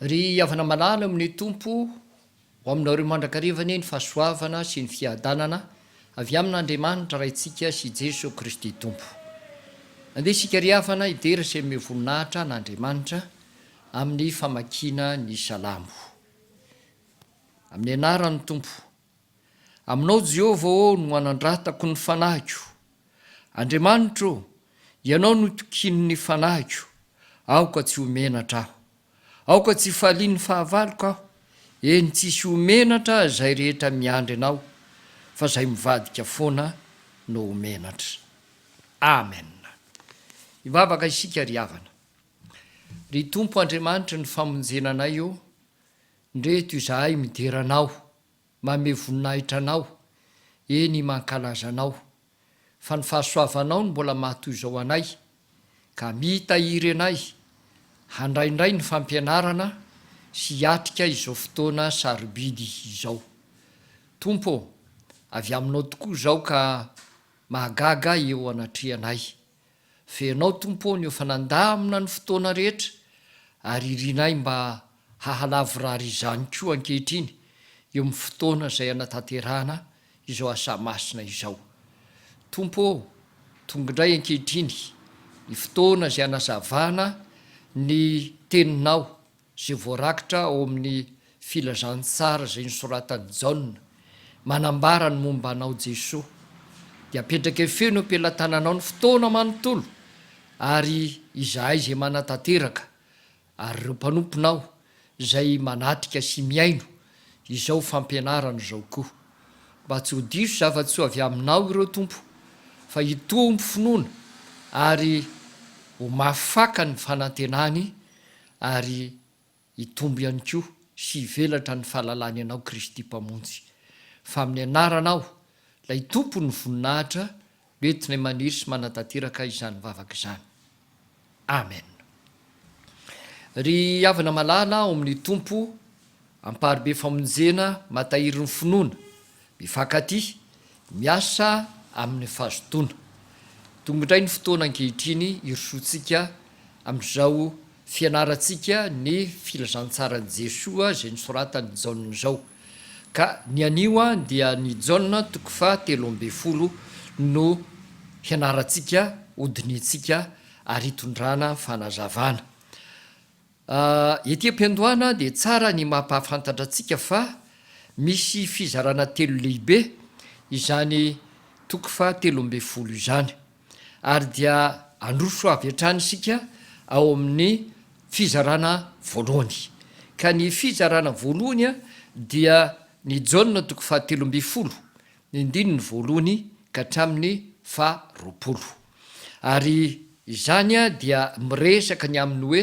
Ry havana malala ao amin' ny Tompo, ho aminareo mandrakariva anie ny fahasoavana sy ny fiadanana avy amin' Andriamanitra Raintsika sy Jeso Kristy Tompo. Andeha isika ry havana hidera sy hamehy voninahitra an' Andriamanitra amin' ny famakiana ny Salamo. Amin' ny anaran' ny Tompo. Aminao Jehovah ô no anandratako ny fanahiko. Andriamanitra ô, Ianao no itokian'ny fanahiko, aoka tsy ho menatra aho. Aoka tsy hifalian'ny fahavaloko aho, eny tsisy ho menatra izay rehetra miandry Anao, fa izay mivadika foana no ho menatra. Amen. Hivavaka isika ry havana. Ry Tompo Andriamanitry ny famonjena anay ô, Ndre eto izahay midera anao, mamehy voninahitra anao, eny mankalaza anao, fa ny fahasoavanao no mbola maha toy izao anay, ka mitahiry anay handray indray ny fampianarana sy hiatrika izao fotoana sarobidy izao. Tompo ô, avy aminao tokoa izao ka mahagaga eo anatrehanay. Fenao Tompo ô ny efa nandamina ny fotoana rehetra ary irinay mba hahalavorary izany koa ankehitriny eo amin'ny fotoana izay hanatanterahana izao asa masina izao. Tompo ô, tonga indray ankehitriny ny fotoana izay hanazavana ny Teninao izay voarakitra ao amin'ny Filazantsara izay nosoratan'i Jaona, manambara ny momba anao Jesoa, dia apetrake feno am-pelatananao ny fotoana manontolo, ary izahay izay manatanteraka, ary ireo mpanomponao izay manatrika sy mihaino izao fampianarana izao koa. Mba tsy ho diso zava-tsoa avy Aminao ireo Tompo, fa hitombo finoana ary ho mafy faka ny fanantenany, ary hitombo ihany koa sy hivelatra ny fahalalany Anao Kristy Mpamonjy, fa amin'ny Anaranao, ilay Tompon'ny voninahitra, no entinay maniry sy manatanteraka izany vavaka izany. Amen. Ry havana malala ao amin'ny Tompo, Amparibe famonjena mahatahiry ny finoana, mifankatia, miasa amin'ny fahazotoana. Tonga indray ny fotoana ankehitriny hirosoantsika amin'izao fianarantsika ny filazantsaran'i Jesoa izay nosoratan'i Jaona izao. Ka ny anio dia ny Jaona toko faha telo ambin'ny folo no hianarantsika, hodinihintsika ary hitondrana fanazavana. A, Ety am-piandohana dia tsara ny mampahafantatra antsika fa misy fizarana telo lehibe izany toko faha telo ambin'ny folo izany. Ary dia handroso avy hatrany isika ao amin'ny fizarana voalohany. Ka ny fizarana voalohany dia ny Jaona toko faha telo ambin'ny folo ny andininy voalohany ka hatramin'ny faha roapolo. Ary izany dia miresaka ny amin'ny hoe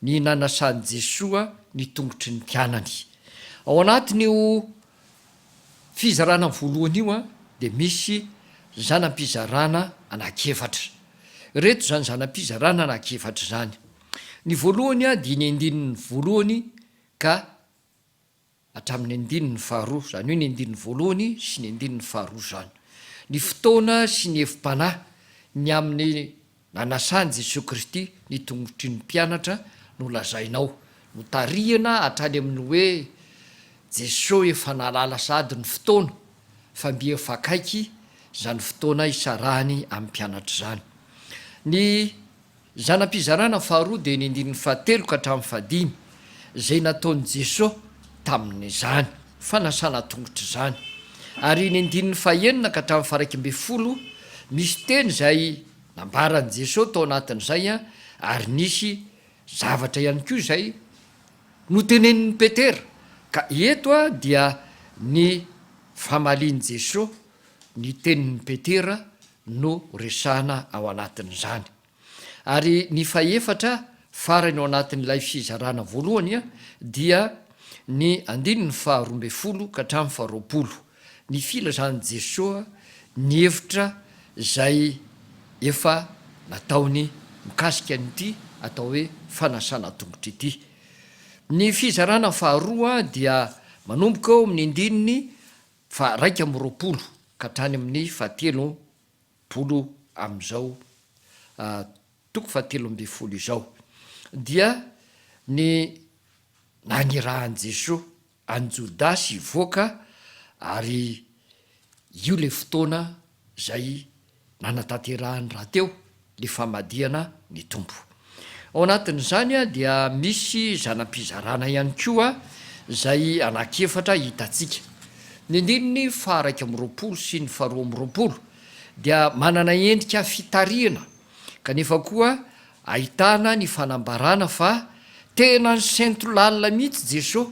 ny nanasan'i Jesoa ny tongotry ny mpianany. Ao anatin'io fizarana voalohany io dia misy zana-pizarana anankiefatra. Ireto izany zana-pizarana anankiefatra izany. Ny voalohany dia ny andininy voalohany ka. hatramin'ny andininy faharoa, izany hoe ny andininy voalohany sy ny andininy faharoa izany, ny fotoana sy ny hevi-panahy ny amin'ny nanasan'i Jesoa Kristy ny tongotry ny mpianatra no lazaina ao, notarihina hatrany amin'ny hoe Jesoa efa nahalala sahady ny fotoana fa mby efa akaiky izany fotoana isarahany amin'ny mpianatra izany. Ny. Zana-pizarana faharoa dia ny andininy fahatelo ka hatramin'ny fahadimy, izay nataon'i Jesosy tamin'izany fanasana tongotra izany, ary ny andininy fahaenina ka hatramin'ny faha-iraika ambin'ny folo, misy teny izay nambaran'i Jesosy tao anatin'izay, ary nisy zavatra ihany koa izay notenenin'i Petera, ka eto dia ny famalian'i Jesosy ny tenin'i Petera no resahana ao anatin'izany. Ary ny fahefatra farany ao anatin'ilay fizarana voalohany dia ny andininy faharoa ambin'ny folo ka hatramin'ny faharoapolo, ny filazan'i Jesoa ny hevitra izay efa nataony mikasika an'ity atao hoe fanasana tongotra ity. Ny fizarana faharoa dia manomboka eo amin'ny andininy Fa raika amby roapolo ka hatrany amin'ny fahatelo polo amin'izao toko fahatelo ambin'ny folo izao dia ny nanirahan'i Jesoa an'i Jodasy hivoaka ary io ilay fotoana izay nanatanterahany rahateo ny famadihana ny Tompo. Ao anatin'izany dia misy zana-pizarana ihany koa izay anankiefatra hitantsika. Ny andininy faha-iraika amby roapolo sy ny faharoa amby roapolo dia manana endrika fitarihana kanefa koa ahitana ny fanambarana fa tena nisento lalina mihitsy Jesoa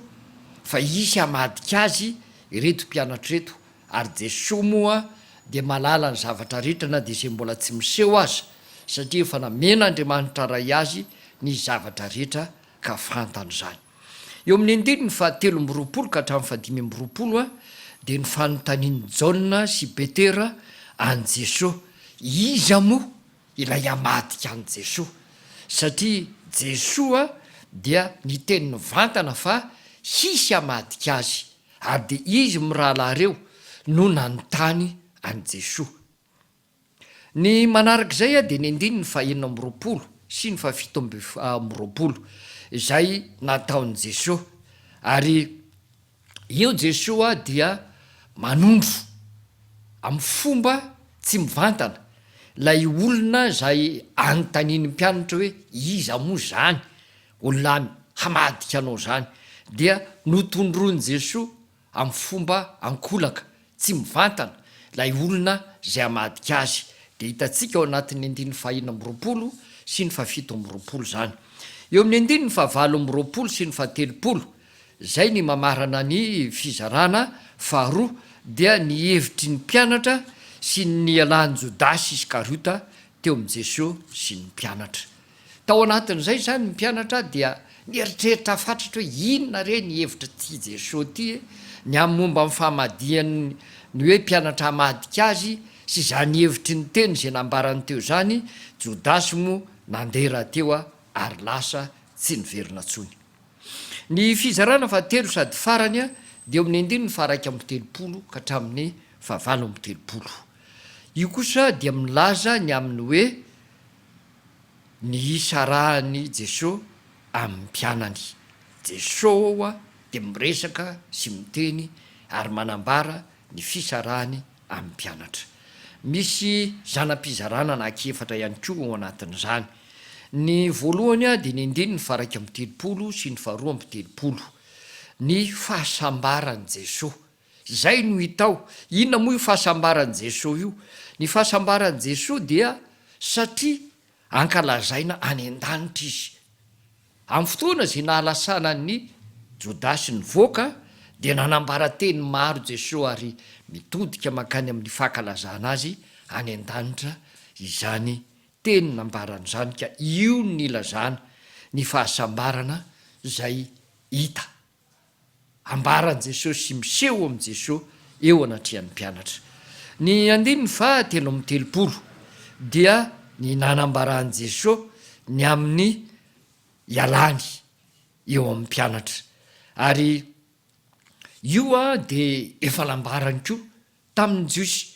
fa hisy hamadika Azy ireto mpianatra ireto Ary Jesoa moa dia mahalala ny zavatra rehetra na dia izay mbola tsy miseho aza, satria efa namen'Andriamanitra Ray Azy ny zavatra rehetra ka fantany izany. Eo amin'ny andininy fahatelo amby roapolo ka hatramin'ny fahadimy amby roapolo dia ny fanontanian'i Jaona sy Petera an'i Jesoa, Iza moa ilay hamadika an'i Jesoa? satria Jesoa dia niteny nivantana fa hisy hamadika Azy ary dia izy mirahalahy ireo no nanontany an'i Jesoa. Ny manaraka izay dia ny andininy fahenina amby roapolo sy ny fahafito amby roapolo izay nataon'i Jesoa, ary io Jesoa dia manondro amin'ny fomba tsy mivantana ilay olona izay anontanian'ny mpianatra hoe iza moa izany? Olona hamadika anao izany dia notondroin'i Jesoa amin'ny fomba ankolaka, tsy mivantana, ilay olona izay hamadika Azy. Dia hitantsika ao anatin'ny andininy fahenina amby roapolo sy ny fahafito amby roapolo izany. Eo amin'ny andininy fahavalo amby roapolo sy ny fahatelopolo, izay ny mamarana ny fizarana faharoa, dia ny hevitry ny mpianatra sy ny nialan'i Jodasy Iskariota teo amin'i Jesoa sy ny mpianatra. Tao anatin'izay izany ny mpianatra dia nieritreritra fatratra hoe inona re ny hevitr'ity Jesosy ity ny amin'ny momba ny famadihany ny hoe mpianatra hamadika azy sy izany hevitry ny teny izay nambarany teo izany, Jodasy moa nandeha rahateo ary lasa tsy niverina intsony. Ny fizarana fahatelo sady farany dia eo amin'ny andininy faharaika amby telopolo ka hatramin'ny fahavalo amby telopolo. Io kosa dia milaza ny amin'ny hoe. ny isa arahan'i Jesoa amin'ny mpianany. Jesoa dia miresaka sy miteny ary manambara ny fisarahany amin'ny mpianatra. Misy zana-pizarana anankiefatra ihany koa ao anatin'izany. Ny voalohany dia ny andininy faha-iraika amby telopolo sy ny faharoa amby telopolo. Ny fahasambaran'i Jesoa. Izay no hita ao. Inona moa io fahasambaran'i Jesoa io? Ny fahasambaran'i Jesoa dia satria ankalazaina any an-danitra Izy. Amin'ny fotoana izay nahalasana an'i Jodasy nivoaka dia nanambara teny maro Jesoa ary mitodika mankany amin'ny fankalazana Azy any an-danitra izany teny nambarany izany ka io no nilazana ny fahasambarana izay hita. ambaran'i Jesosy sy miseho amin'i Jesosy eo anatrehan'ny mpianatra. Ny andininy faha telo amby telopolo dia ny nanambaran'i Jesosy ny amin'ny ialany eo amin'ny mpianatra ary io dia efa nambarany koa tamin' ny Jiosy,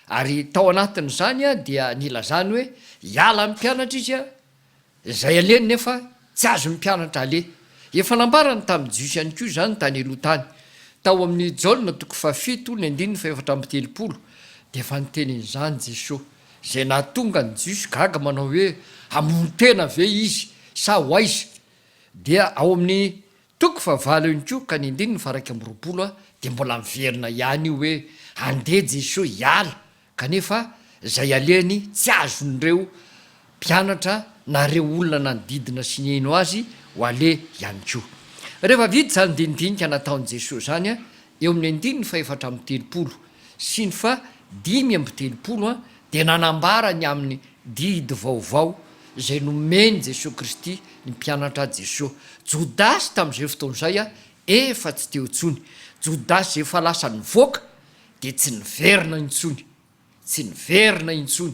ary tao anatin' izany dia nilazany hoe hiala ny mpianatra izy, izay alehany nefa tsy azon' ny mpianatra haleha. Efa nambarany tamin' ny Jiosy ihany koa izany tany aloha tany. Tao amin' i Jaona toko fahafito ny andininy fahefatra amby telopolo dia efa niteny an' izany Jesoa, izay nahatonga ny Jiosy gaga manao hoe, Hamono tena ve Izy sa ho aiza? Dia ao amin' ny Toko fahavalo ihany koa ka ny andininy faha iraika amby roapolo a dia mbola miverina ihany io hoe andeha Jesoa hiala kanefa izay alehany tsy azon'ireo mpianatra na ireo olona nanodidina sy nihaino azy ho aleha ihany koa. Rehefa vita izany dinidinika nataon'i Jesoa izany eo amin'ny andininy faha efatra amby telopolo sy ny faha dimy amby telopolo dia nanambara ny amin'ny didy vaovao izay nomen'i Jesoa Kristy ny mpianatra Jesoa. Jodasy tamin'izay fotoana izay efa tsy teo intsony. Jodasy izay efa lasa nivoaka dia tsy niverina intsony. Tsy niverina intsony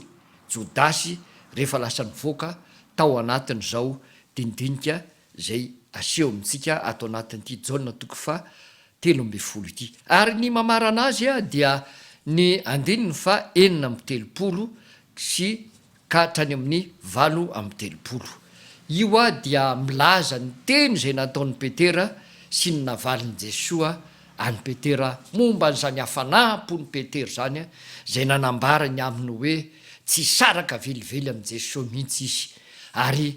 Jodasy rehefa lasa nivoaka tao anatin'izao dinidinika izay aseho amintsika ato anatin'ity Jaona toko faha telo ambin'ny folo ity. Ary ny mamarana azy dia ny andininy faha enina amby telopolo sy ka hatrany amin'ny valo amby telopolo. Io dia milaza ny teny izay nataon'i Petera sy ny navalin'i Jesoa an'i Petera momba an'izany hafanam-pon'i Petera izany izay nanambarany aminy hoe tsy hisaraka velively amin'i Jesoa mihitsy izy ary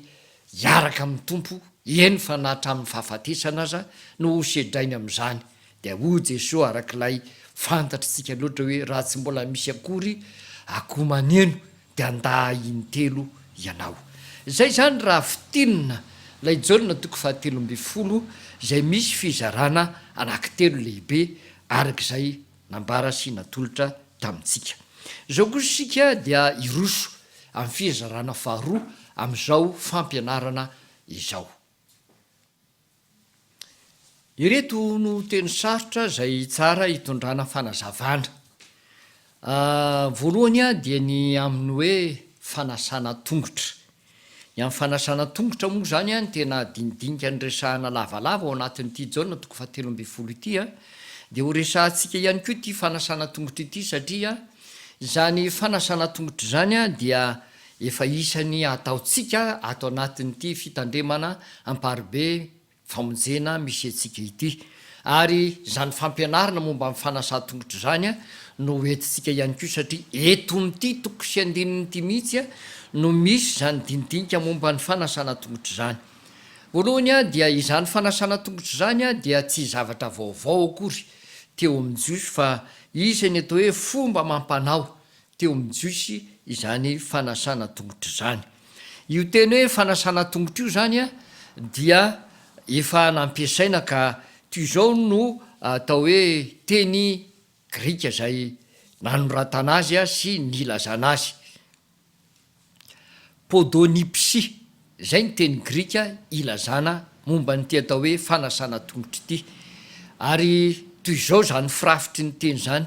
hiaraka amin'ny Tompo, eny fa na hatramin'ny fahafatesana aza no hosedrainy amin'izany, dia hoy Jesoa arak'ilay fantatr'isika loatra hoe raha tsy mbola misy akory akoho maneno dia andaha intelo ianao. Izay izany raha fintinina ilay Jaona toko fahatelo ambin'ny folo izay misy fizarana anankitelo lehibe arak'izay nambara sy natolotra tamintsika. Izao kosa isika dia hiroso amin'ny fizarana faharoa amin'izao fampianarana izao. Ireto no teny sarotra izay tsara hitondrana fanazavana. Voalohany dia ny amin'ny hoe fanasana tongotra. Ny amin'ny fanasana tongotra moa izany an, tena dinidinika niresahana lavalava ao anatin'ity Jaona toko fahatelo ambin'ny folo ity an, dia ho resahantsika ihany koa ity fanasana tongotra ity satria izany fanasana tongotra izany an dia efa isan'ny ataontsika ato anatin'ity fitandremana amparibe famonjena misy antsika ity. Ary izany fampianarana momba ny fanasan-tongotra izany no ho entintsika ihany koa satria eto amin'ity toko sy andininy ity mihitsy no misy izany dinidinika momba ny fanasana tongotra izany. Voalohany dia izany fanasana tongotra izany dia tsy zavatra vaovao akory teo amin'ny Jiosy fa isan'ny atao hoe fomba amam-panao teo amin'ny Jiosy izany fanasana tongotra izany. Io teny hoe fanasana tongotra io izany dia efa nampiasaina ka toy izao no atao hoe teny grika izay nanoratana azy sy nilazana azy, podonipsi, izay ny teny grika ilazana momba an'ity atao hoe fanasana tongotra ity. Ary toy izao izany firafitry ny teny izany,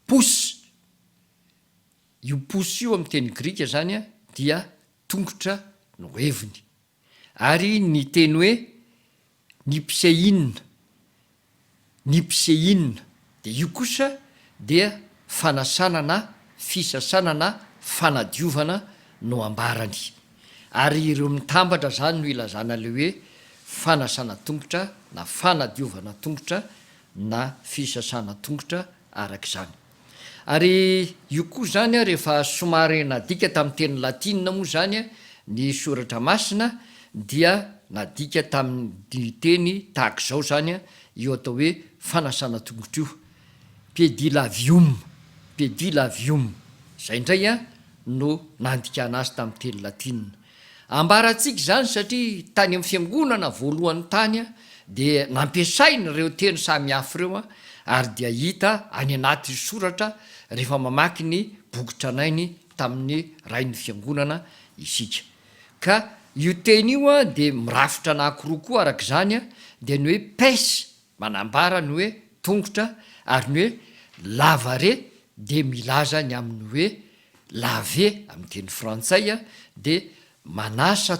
Pousse. Io pousse io amin'ny teny grika izany dia tongotra no heviny. Ary ny teny hoe nipsei'na, nipsei'na, dia io kosa dia fanasana na fisasana na fanadiovana no ambarany. Ary ireo mitambatra izany no ilazana ilay hoe fanasana tongotra na fanadiovana tongotra na fisasana tongotra araka izany. Ary io koa izany ary efa somary nadika tamin'ny teny latina moa izany ny soratra masina dia nadika tamin'ny teny tahaka izao izany io atao hoe fanasana tongotra io, pedilavium, pedilavium, izay indray no nandikana azy tamin'ny teny latina. Ambarantsika izany satria tany amin'ny fiangonana voalohany tany dia nampiasaina ireo teny samihafa ireo ary dia hita any anaty soratra rehefa mamaky ny boky tranainy tamin'ny rain'ny fiangonana isika. Ka io teny io dia mirafitra anankiroa koa araka izany dia ny hoe pes Manambara ny hoe tongotra ary ny hoe lavare dia milaza ny amin'ny hoe laver amin'ny teny frantsay dia manasa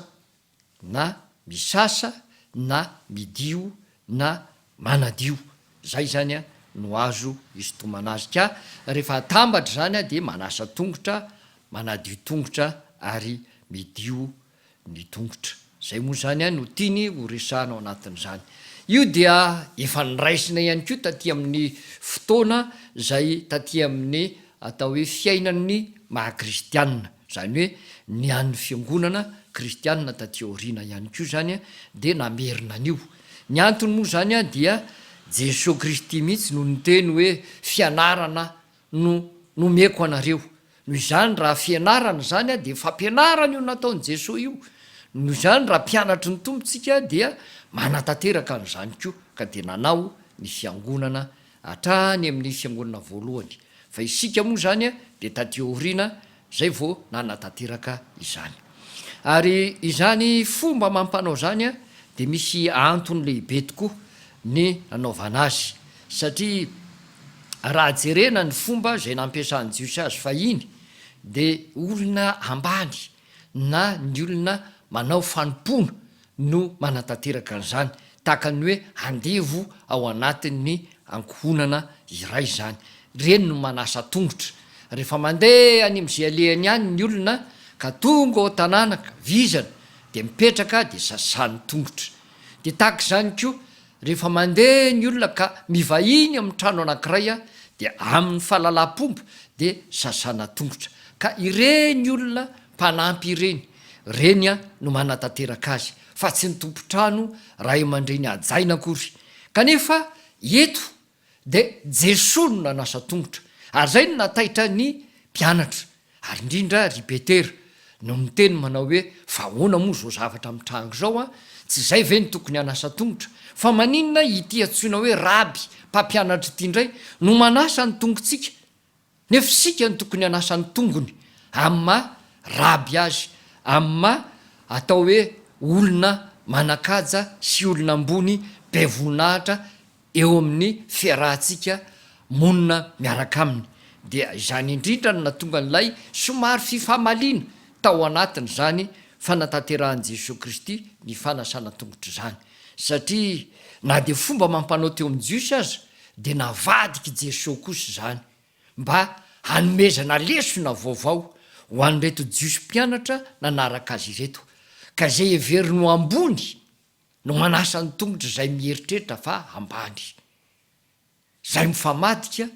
na misasa na midio na manadio. Izay izany no azo isintomana azy ka rehefa atambatra izany dia manasa tongotra, manadio tongotra ary midio ny tongotra. Izay moa izany ihany no tiany ho resahana ao anatin'izany. Io dia efa noraisina ihany koa taty amin'ny fotoana izay taty amin'ny atao hoe fiainan'ny maha kristianina, izany hoe ny an'ny fiangonana kristianina taty aoriana ihany koa izany dia namerina an'io. Ny antony moa izany dia Jesoa Kristy mihitsy no niteny hoe fianarana no nomeko anareo. Noho izany raha fianarana izany dia fampianarana io nataon'i Jesoa io. Noho izany raha mpianatry ny Tompo tsika dia manatanteraka an'izany koa ka dia nanao ny fiangonana hatrany amin'ny fiangonana voalohany fa isika moa izany dia taty aoriana izay vao nanatanteraka izany. Ary izany fomba amam-panao izany dia misy antony lehibe tokoa ny nanaovana azy, satria raha jerena ny fomba izay nampiasan'ny Jiosy azy fahiny dia olona ambany na ny olona manao fanompoana no manatanteraka an'izany, tahaka ny hoe andevo ao anatin'ny ankohonana iray izany. Ireny no manasa tongotra. Rehefa mandeha any amin'izay alehany any ny olona ka tonga ao an-tanàna ka vizana dia mipetraka dia sasany tongotra. Dia tahaka izany koa. Rehefa mandeha ny olona ka mivahiny amin'ny trano anankiray dia amin'ny fahalalampomba dia sasana tongotra ka ireny olona mpanampy ireny reny no manatanteraka azy fa tsy ny tompon-trano, ray aman-dreny hajaina akory. Kanefa eto Dia Jesoa no nanasa tongotra, ary izay no nahataitra ny mpianatra, ary indrindra ry Petera, no niteny manao hoe, Fa ahoana moa izao zavatra mitranga izao an? Tsy izay ve no tokony hanasa tongotra? Fa maninona ity antsoina hoe Raby, Mpampianatra ity indray, no manasa ny tongotsika? Nefa isika no tokony hanasa ny tongony amin'ny maha raby azy, amin'ny maha atao hoe olona manan-kaja sy olona ambony be voninahitra eo amin'ny fiarahantsika monina miaraka aminy. Dia izany indrindra no nahatonga an'ilay somary fifamaliana tao anatin'izany fanatanterahan'i Jesoa Kristy ny fanasana an-tongotra izany. Satria na dia fomba amam-panao teo amin'ny Jiosy aza dia navadik'i Jesoa kosa izany mba hanomezana lesona vaovao ho an'ireto Jiosy mpianatra nanaraka Azy ireto, ka izay heveriny ho ambony no manasa ny tongotra izay mieritreritra fa ambany. Izay mifamadika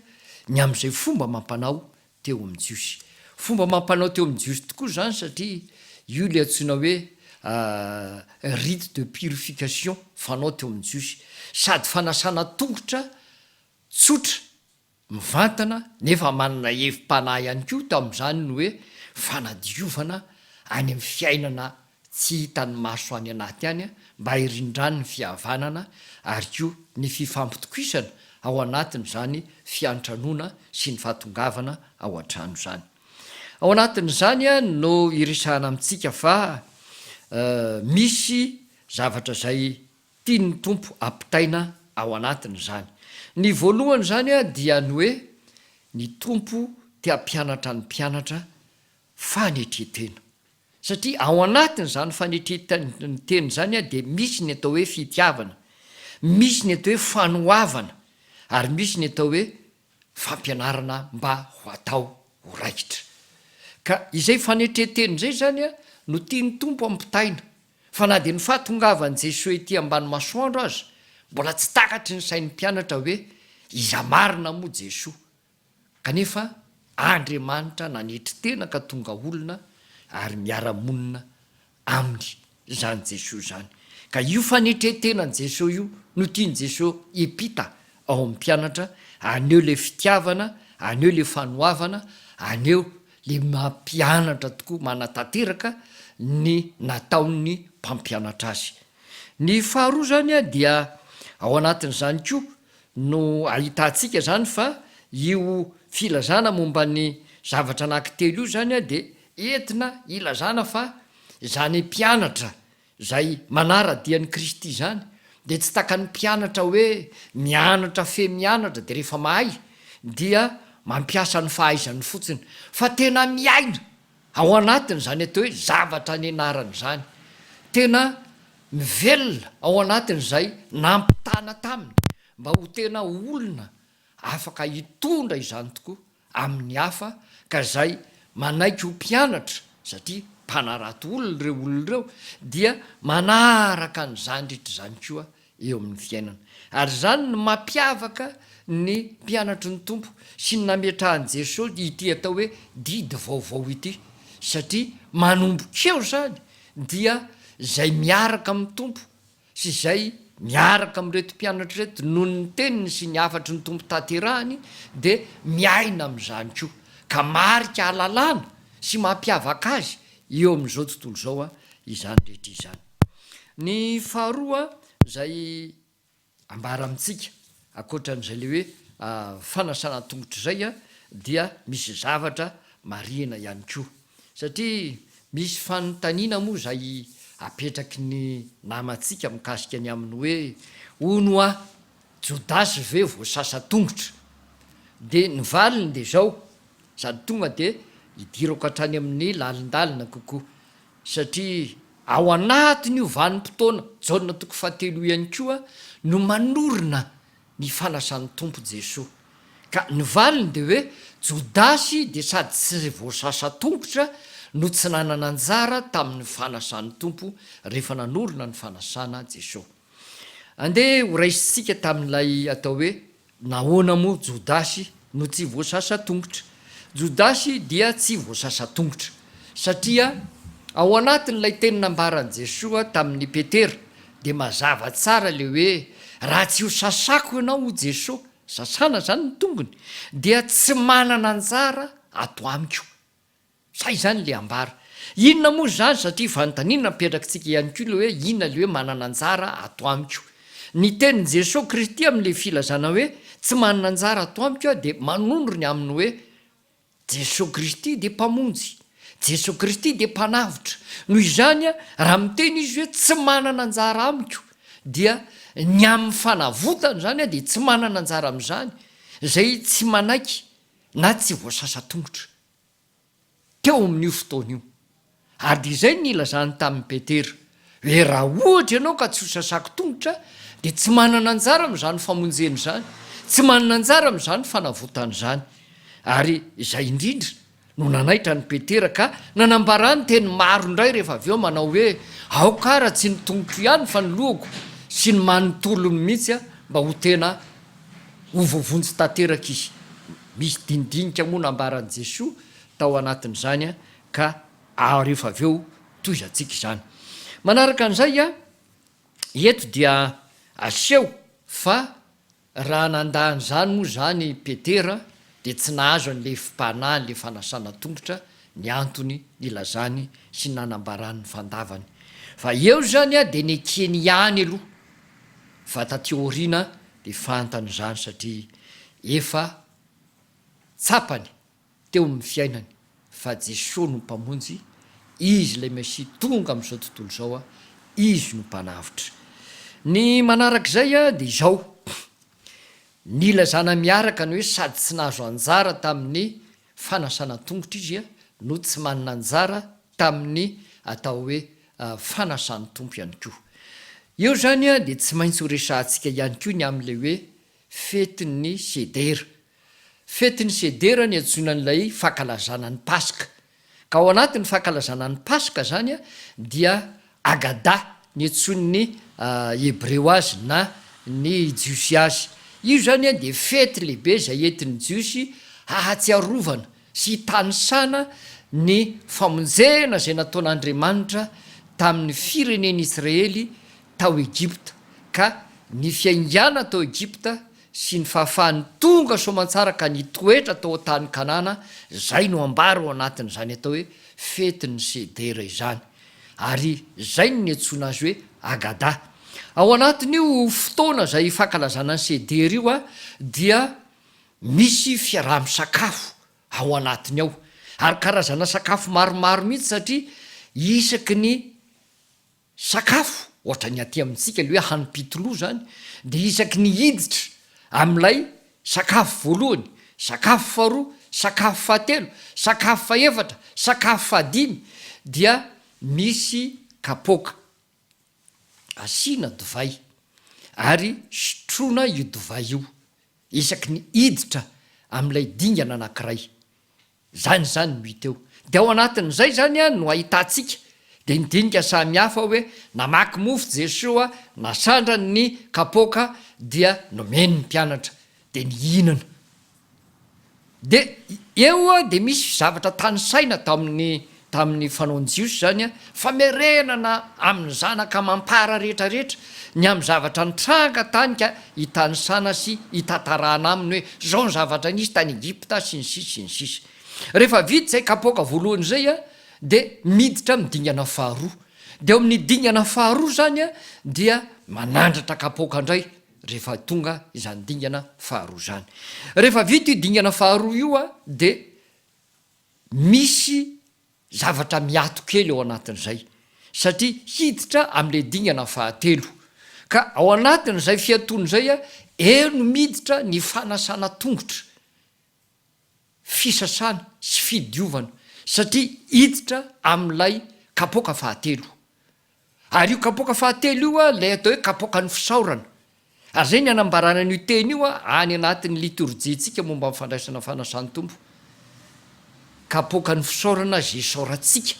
ny amin'izay fomba amam-panao teo amin'ny Jiosy. Fomba amam-panao teo amin'ny Jiosy tokoa izany satria io ilay antsoina hoe rite de purification fanao teo amin'ny Jiosy. Sady fanasana tongotra tsotra, mivantana, nefa manana hevi-panahy ihany koa tamin'izany ny hoe fanadiovana any amin'ny fiainana tsy hitan'ny maso any anaty any mba hirindrany ny fihavanana ary koa ny fifampitokisana ao anatin'izany fiantranoana sy ny fahatongavana ao an-trano izany. Ao anatin'izany no iresahana amintsika fa misy zavatra izay tian'ny Tompo hampitaina ao anatin'izany. Ny voalohany izany dia ny hoe ny Tompo te hampianatra ny mpianatra Fanetren-tena. Satria ao anatin'izany fanetren-tena izany dia misy ny atao hoe fitiavana, misy ny atao hoe fanoavana ary misy ny atao hoe fampianarana mba ho atao ho raikitra. Ka izay fanetren-tena izay izany no tian'ny Tompo hampitaina, fa na dia ny fahatongavan'i Jesoa ety ambany masoandro aza mbola tsy takatry ny sain'ny mpianatra hoe iza marina moa Jesoa Kanefa Andriamanitra nanetry tena ka tonga olona ary miara-monina Aminy izany Jesoa izany. Ka io fanetren-tenan'i Jesoa io no tian'i Jesoa hiampita ao amin'ny mpianatra, haneho ilay fitiavana, haneho ilay fanoavana, haneho ilay mampianatra tokoa, manatanteraka ny nataon'ny mpampianatra azy. Ny faharoa izany dia ao anatin'izany koa no ahitantsika izany fa io filazana momba ny zavatra anankitelo io izany dia entina hilazana fa izany mpianatra izay manara-dia an'i Kristy izany dia tsy takan'ny mpianatra hoe mianatra fe mianatra dia rehefa mahay dia mampiasa ny fahaizany fotsiny fa tena miaina Ao anatin'izany atao hoe zavatra nianarana izany, tena mivelona ao anatin'izay nampitana taminy mba ho tena olona afaka hitondra izany tokoa amin'ny hafa ka izay manaiky ho mpianatra, satria mpanarato olona ireo olona ireo, dia manaraka ny zandritra izany koa eo amin'ny fiainana. Ary izany no mampiavaka ny mpianatry ny Tompo sy ny nametrahan'i Jesosy ity atao hoe didy vaovao ity, satria manomboka eo izany dia izay miaraka amin'ny Tompo sy izay miaraka amin'ireto mpianatra ireto noho ny teniny sy ny hafatry ny Tompo tanterahiny dia miaina amin'izany koa, ka marika halalana sy mampiavaka azy eo amin'izao tontolo izao izany rehetra izany. Ny faharoa izay ambara amintsika ankoatran'izay ilay hoe fanasana an-tongotra izay dia misy zavatra marihina ihany koa satria misy fanontaniana moa izay apetraky ny namantsika mikasika ny amin'ny hoe hono hoa Jodasy ve voasasa tongotra? dia ny valiny dia izao Izany tonga dia hidirako hatrany amin'ny lalindalina kokoa, satria ao anatin'io vanim-potoana, Jaona toko fahatelo ihany koa no manorina ny fanasan'ny Tompo Jesoa. Ka ny valiny dia hoe, Jodasy dia sady tsy voasasa tongotra no tsy nanana anjara tamin'ny fanasan'ny Tompo rehefa nanorina ny fanasana Jesoa. Andeha ho raisintsika tamin'ilay atao hoe nahoana moa Jodasy no tsy voasasa tongotra. Jodasy dia tsy voasasa tongotra satria ao anatin'ilay teny nambaran'i Jesoa tamin'i Petera dia mazava tsara ilay hoe raha tsy ho sasako ianao hoy Jesoa, sasana izany ny tongony, dia tsy manana anjara ato amiko. Sa izany le ambara? Inona moa izany satria fanontaniana apetrakitsika ihany koa le hoe inona le hoe manana anjara ato amiko? Ny tenin'i Jesoa Kristy amin'le filazana hoe tsy manana anjara ato amiko aho dia manondro ny amin'ny hoe Jesoa Kristy dia Mpamonjy, Jesoa Kristy dia Mpanavotra. Noho izany raha miteny Izy hoe tsy manana anjara amiko dia ny amin'ny fanavotana izany aho dia tsy manana anjara amin'izany, izay tsy manaiky na tsy voasasa tongotra. teo amin'io fotoana io. Ary dia izay no nilazany tamin'i Petera, hoe raha ohatra ianao ka tsy ho sasako tongotra, dia tsy manana anjara amin'izany famonjena izany, tsy manana anjara amin'izany fanavotana izany. Ary izay indrindra no nanaitra an'i Petera, ka nanambarany teny maro indray rehefa avy eo manao hoe, Aoka ara tsy ny tongoko ihany fa ny lohako sy ny manontolony mihitsy mba ho tena Ho voavonjy tanteraka izy. Misy dinidinika moa nambaran'i Jesoa tao anatin'izany ka rehefa avy eo tohizantsika izany. Manaraka an'izay, eto dia aseho fa raha nandà an'izany moa izany Petera dia tsy nahazo an'i Lefim-panahy, ilay fanasana tongotra, ny antony nilazany sy nanambarany ny fandavany. Fa eo izany dia nekeny ihany aloha Fa taty aoriana dia fantany izany satria efa tsapany teo amin'ny fiainany fa Jesoa no Mpamonjy, Izy ilay Mesia tonga amin'izao tontolo izao, Izy no Mpanavotra. Ny manaraka izay dia izao, nilazana miaraka ny hoe sady tsy nahazo anjara tamin'ny fanasana tongotra izy no tsy manana anjara tamin'ny atao hoe fanasan'ny Tompo ihany koa. Eo izany dia tsy maintsy ho resahantsika ihany koa ny amin'ilay hoe fetin'ny sedera. Fetin'ny sedera ny antsoina an'ilay fankalazana ny Paska. Ka ao anatin'ny fankalazana ny Paska izany dia Haggadah, niantsoan'ny Hebreo azy na ny Jiosy azy. Io izany dia fety lehibe izay entin'ny Jiosy hahatsiarovana sy hitanisana ny famonjena izay nataon'Andriamanitra tamin'ny firenen'Israely tao Egypta, ka ny fiainganany tao Egypta sy ny fahafahany tonga soamantsara ka nitoetra tao an-tany Kanana, izay no ambara ao anatin'izany atao hoe fetin'ny Sedera izany. ary izay no niantsoana azy hoe Haggadah. Ao anatin'io fotoana izay fankalazana ny Seder io dia misy fiaraha-misakafo ao anatiny ao, ary karazana sakafo maromaro mihitsy satria isaky ny sakafo, ohatra ny aty amintsika ilay hoe hanim-pitoloha izany, dia isaky ny hiditra amin'ilay Sakafo voalohany, sakafo faharoa, sakafo fahatelo, sakafo fahefatra, sakafo fahadimy dia misy kapoaka. Asiana divay ary sotroina io divay io isaky ny hiditra amin'ilay dingana anankiray. Izany izany no hita eo. Dia ao anatin'izay izany no ahitantsika dia ny dinika samy hafa hoe namaky mofo Jesoa, nasandrany ny kapoaka dia nomeny ny mpianatra dia nihinana. Dia eo dia misy zavatra tanisaina tao amin'ny tamin'ny fanaon'ny Jiosy izany, famerenana amin'ny zanaka amam-para rehetra rehetra ny amin'ny zavatra nitranga tany ka hitanisana sy hitantarana aminy hoe izao ny zavatra nisy tany Egypta sy ny sisa sy ny sisa. Rehefa vita izay kapoaka voalohany izay dia miditra amin'ny dingana faharoa. Dia ao amin'ny dingana faharoa izany dia manandratra kapoaka indray rehefa tonga izany dingana faharoa izany. Rehefa vita io dingana faharoa io dia Misy zavatra miato kely ao anatin'izay satria hiditra amin'ilay dingana fahatelo. Ka ao anatin'izay fiatoana izay, eo no miditra ny fanasana tongotra, fisasana sy fidiovana satria hiditra amin'ilay kapoaka fahatelo. Ary io kapoaka fahatelo io, ilay atao hoe kapoakan'ny fisaorana. Ary izay ny anambarana an'io teny io any anatin'ny litorjiantsika momba ny fandraisana fanasan'ny Tompo. Kapoakan'ny fisaorana izay isaorantsika,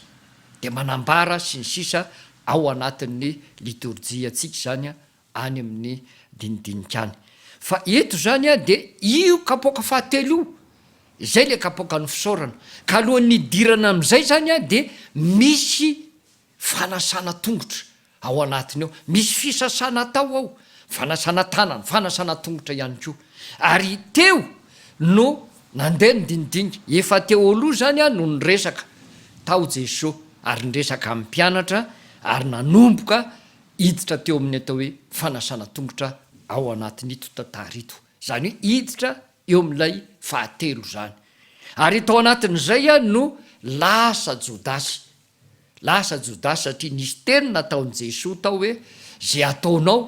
dia manambara sy ny sisa ao anatin'ny litorjiantsika izany any amin'ny dinidinika any. Fa eto izany dia io kapoaka fahatelo io, izay ilay kapoakan'ny fisaorana. Ka alohan'ny hidirana amin'izay izany dia misy Fanasana tongotra ao anatiny ao. Misy fisasana atao ao, fanasana tanana, fanasana tongotra ihany koa. Ary teo no nandeha ny dinidinika. Efa teo aloha izany aho no niresaka tao Jeso ary niresaka amin'ny mpianatra ary nanomboka hiditra teo amin'ny atao hoe fanasana tongotra ao anatin'ito tantara ito. Izany hoe hiditra eo amin'ilay fahatelo izany. Ary tao anatin'izay aho no lasa Jodasy Lasa Jodasy satria nisy teny nataon'i Jesoa tao hoe ze ataonao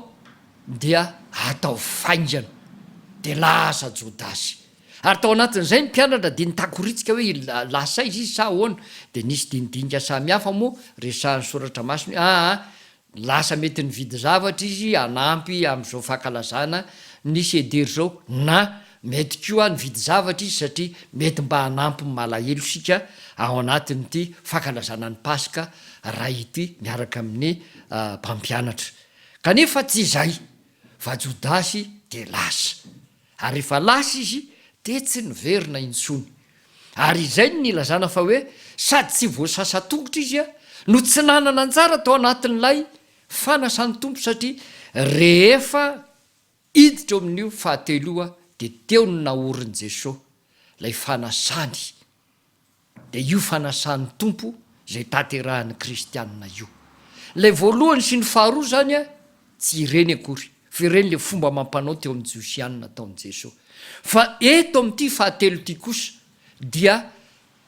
dia ataovy faingana. Dia lasa Jodasy. Ary tao anatin'izay ny mpianatra dia nitakoritsika hoe lasa izy sa ahoana. Dia nisy dinidinika samihafa moa resahin'ny soratra masina hoe aa Ny lasa mety nividy zavatra izy hanampy amin'izao fankalazana nisy Eder izao na mety koa nividy zavatra izy satria mety mba hanampy ny malahelo isika ao anatin'ity fankalazana ny Paska iray ity miaraka amin'ny mpampianatra kanefa tsy izay fa Jodasy dia lasa Ary rehefa lasa izy dia tsy niverina intsony. Ary izay no nilazana fa hoe sady tsy voasasa tongotra izy no tsy nanana anjara tao anatin'ilay fanasan'ny Tompo satria rehefa hiditra eo amin'io fahatelo io dia teo no naorin'i Jesoa ilay fanasany. Dia io fanasan'ny Tompo izay tanterahan'ny kristianina io. Ilay voalohany sy ny faharoa izany tsy ireny akory, fa ireny ilay fomba amam-panao teo amin'ny Josiana nataon'i Jesoa. Fa eto amin'ity fahatelo ity kosa dia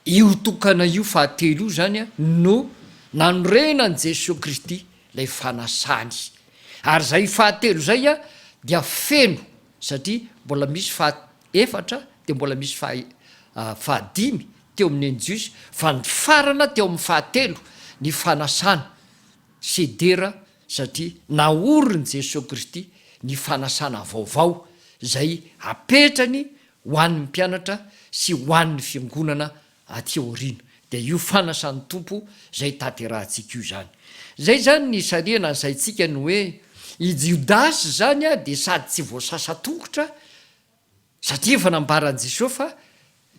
io tokana io fahatelo io izany no nanorenan'i Jesoa Kristy ilay fanasany. Ary izay fahatelo izay dia feno satria mbola misy faha. Efatra dia mbola misy faha fahadimy teo amin'ny eni-jiosy fa nifarana teo amin'ny fahatelo ny fanasana sy dera satria naorin'i Jesoa Kristy ny fanasana vaovao izay apetrany ho an'ny mpianatra sy ho an'ny fiangonana aty aoriana dia io fanasan'ny Tompo izay hitanterahantsika io izany. Izay izany ny sarihana asaintsika ny hoe i Jodasy izany dia sady tsy voasasa tongotra satria efa nambaran'i Jesoa fa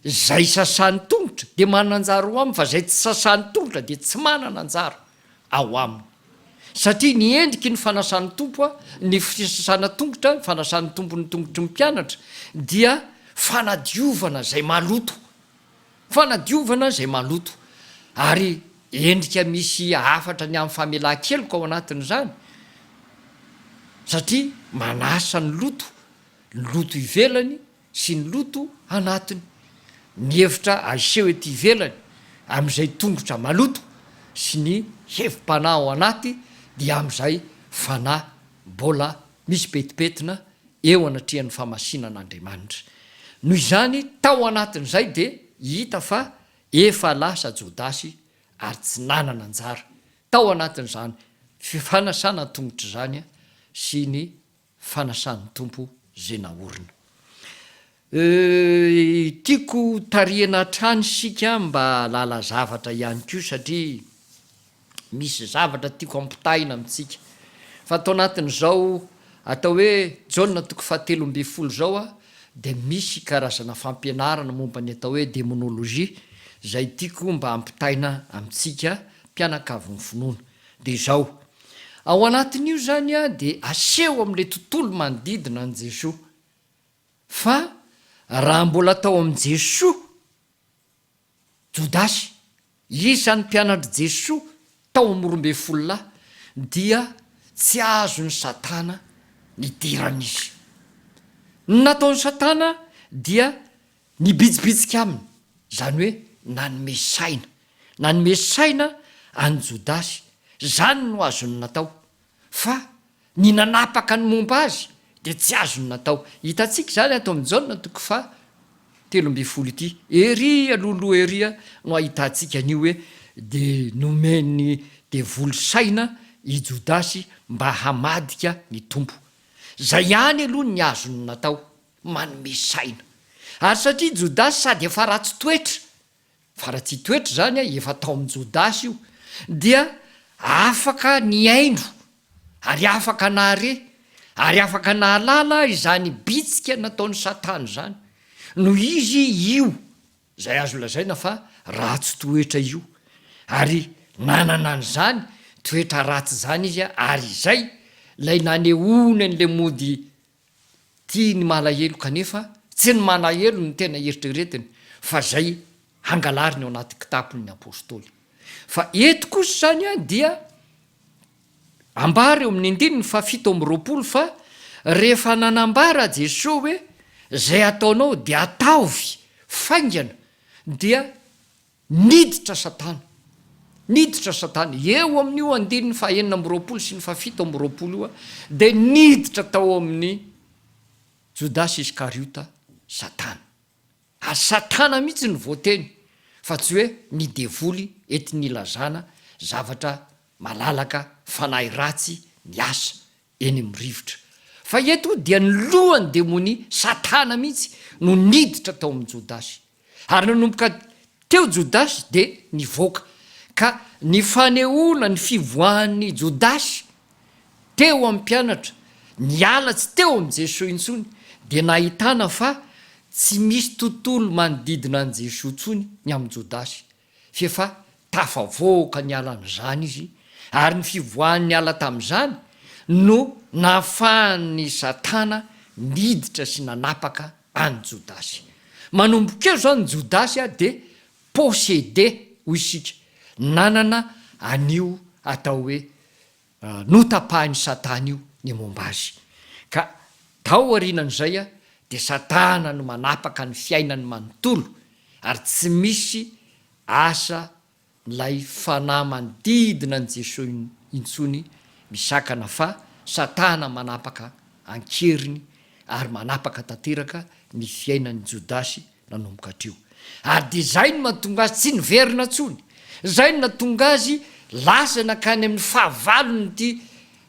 izay sasany tongotra dia manana anjara ao aminy fa izay tsy sasany tongotra dia tsy manana anjara ao aminy satria ny endriky ny fanasan'ny Tompo ny fisasana tongotra ny fanasan'ny Tompo ny tongotry ny mpianatra dia fanadiovana izay maloto Fanadiovana izay maloto, ary endrika misy hafatra ny amin'ny famelan-keloka ao anatin'izany, satria manasa ny loto, ny loto ivelany sy ny loto anatiny, ny efitra aseho ety ivelany amin'izay tongotra maloto sy ny hevi-panahy ao anaty dia amin'izay fanahy mbola misy petipetina eo anatrehan'ny famasinan'Andriamanitra. Noho izany, tao anatin'izay dia hita fa efa lasa Jodasy ary tsy nanana anjara tao anatin'izany fanasana an-tongotra izany sy ny fanasan'ny Tompo izay naorina. Euh tiako ho tarihana hatrany isika mba hahalala zavatra ihany koa satria misy zavatra tiako ampitahaina amintsika fa tao anatin'izao atao hoe Jaona toko fahatelo ambin'ny folo izao a de misy karazana fampianarana momba ny atao hoe demonologie izay tiako mba hampitahaina amintsika mpianakavin'ny finoana de izao ao anatin'io zany a de aseho amin'ilay tontolo manodidina an'i Jesoa fa raha mbola tao amin'i Jesoa Jodasy, isan'ny mpianatr'i Jesoa tao amin'ny roa ambin'ny folo lahy, dia tsy azon'i Satana nidirana izy. Ny nataon'i Satana dia nibitsibitsika aminy, izany hoe nanome saina. Nanome saina an'i Jodasy. Izany no azony natao. Fa ny nanapaka ny momba azy dia tsy azony natao. Hitantsika izany ato amin'ny Jaona toko faha telo ambin'ny folo ity. Ery alohaloha ery no ahitantsika an'io hoe dia nomen'ny devoly saina i Jodasy mba hamadika ny Tompo. Izay ihany aloha ny azony natao, manome saina. Ary satria Jodasy sady efa ratsy toetra Fa raha tsy toetra izany efa tao amin'i Jodasy io, dia afaka nihaino ary afaka nahare ary afaka nahalala izany bitsika nataon'i Satana izany, noho izy io izay azo lazaina fa ratsy toetra io, ary nanana an'izany toetra ratsy izany izy, ary izay ilay nanehoany an'ilay mody Tia ny malahelo kanefa tsy ny malahelo no tena eritreretiny fa izay hangalariny ao anaty kitapony ny apostoly. Fa eto kosa izany dia ambara eo amin'ny andininy fahafito amby roapolo fa rehefa nanambara Jesoa hoe izay ataonao dia ataovy faingana dia Niditra Satana. Niditra Satana. Eo amin'io andininy fahenina amby roapolo sy ny fahafito amby roapolo io dia niditra tao amin'i Jodasy Iskariota Satana. Ary Satana mihitsy no voateny fa tsy hoe ny devoly entin'ilazana zavatra malalaka, fanahy ratsy, ny asa. eny amin'ny rivotra. Fa eto dia ny lohan'ny demonia, Satana mihitsy, no niditra tao amin'i Jodasy. Ary nanomboka teo Jodasy dia nivoaka. Ka ny fanehoana ny fivoahan'i Jodasy teo amin'ny mpianatra niala tsy teo amin'i Jesoa intsony dia nahitana fa tsy misy tontolo manodidina an'i Jesoa intsony ny amin'i Jodasy. Tsy efa tafavoaka niala an'izany izy, ary ny fivoahany niala tamin'izany no nahafahan'i Satana niditra sy nanapaka an'i Jodasy. Manomboka eo izao ny Jodasy dia possédé, hoy isika, nanana an'io atao hoe Notapahin'i Satana io ny momba azy, ka taorianan'izay dia Satana no manapaka ny fiainany manontolo, ary tsy misy asa ilay fanahy manodidina an'i Jesoa intsony misakana fa Satana manapaka an-keriny ary manapaka tanteraka ny fiainan'i Jodasy nanomboka hatreo. Ary dia izay no mahatonga azy tsy niverina intsony. Izay no nahatonga azy lasa nankany amin'ny fahavalon'ity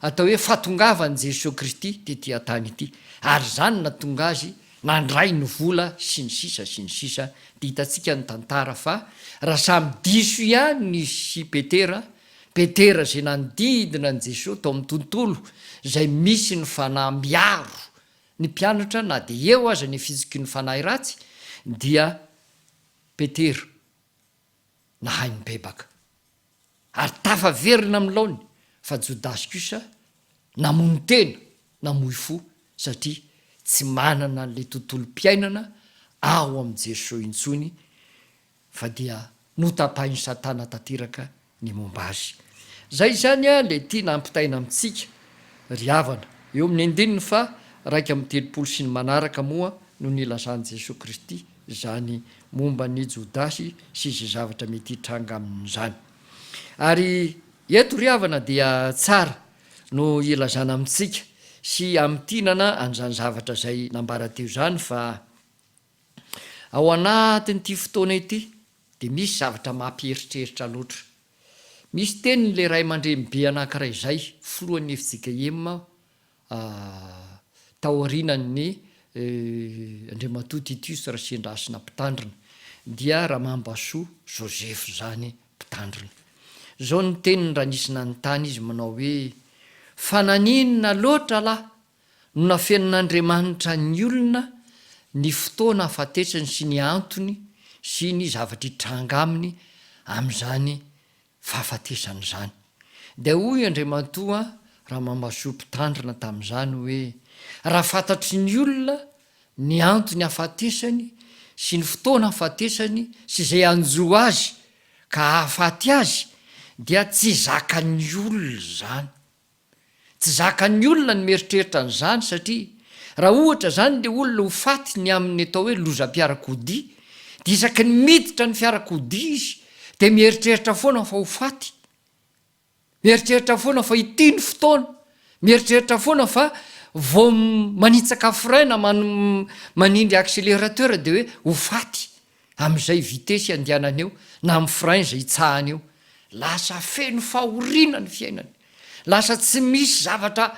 atao hoe fahatongavan'i Jesoa Kristy tetỳ an-tany ity. Ary izany no nahatonga azy nandray ny vola sy ny sisa sy ny sisa. Dia hitantsika ny tantara fa raha samy diso ihany nisy i Petera, Petera izay nanodidina an'i Jesoa tao amin'ny tontolo izay misy ny fanahy miaro Ny mpianatra na dia eo aza ny fizokian'ny fanahy ratsy dia Petera nahay nibebaka ary tafaverina amin'ny laony fa Jodasy kosa namono tena, namoy fo satria tsy manana an'ilay tontolom-piainana ao amin'i Jeso intsony fa dia notapahin'i Satana tanteraka ny momba azy. Izay izany ilay tiana hampitaina amintsika, ry havana, eo amin'ny andininy faha raika amby telopolo sy ny manaraka moa no nilazan'i Jesoa Kristy izany momba an'i Jodasy sy izay zavatra mety hitranga aminy izany. Ary eto, ry havana, dia tsara no ilazana amintsika sy hamintinana an'izany zavatra izay nambara teo izany fa, Ao anatin'ity fotoana ity dia misy zavatra mampieritreritra loatra. Misy tenin'ilay ray aman-dreny be anankiray izay filohan'ny fjkm taorianan'ny Andriamatoa Titius Rasiandrasina Mpitandrina, dia Ramambasoa Joseph izany Mpitandrina. Izao ny teniny raha nisy nanontany izy manao hoe, Fa naninona loatra lahy No nafenin'Andriamanitra ny olona ny fotoana ahafatesany sy ny antony sy ny zavatra hitranga aminy amin'izany fahafatesany izany. Dia hoy Andriamatoa Ramamasoa Mpitandrina tamin'izany hoe, raha fantatry ny olona ny antony ahafatesany sy ny fotoana ahafatesany sy izay hanjo azy ka hahafaty azy dia tsy zakan'ny olona izany. Tsy zakan'ny olona ny mieritreritra an'izany satria raha ohatra izany ilay olona ho faty ny amin'ny atao hoe lozam-piarakodia dia isaky ny miditra ny fiarakodia izy dia mieritreritra foana fa ho faty, mieritreritra foana fa ity ny fotoana, mieritreritra foana fa vao manitsaka frein na manindry accélérateur dia hoe ho faty. Amin'izay vitesy iandianany eo na amin'ny frein izay itsahany eo, lasa feno fahoriana ny fiainany. Lasa tsy misy zavatra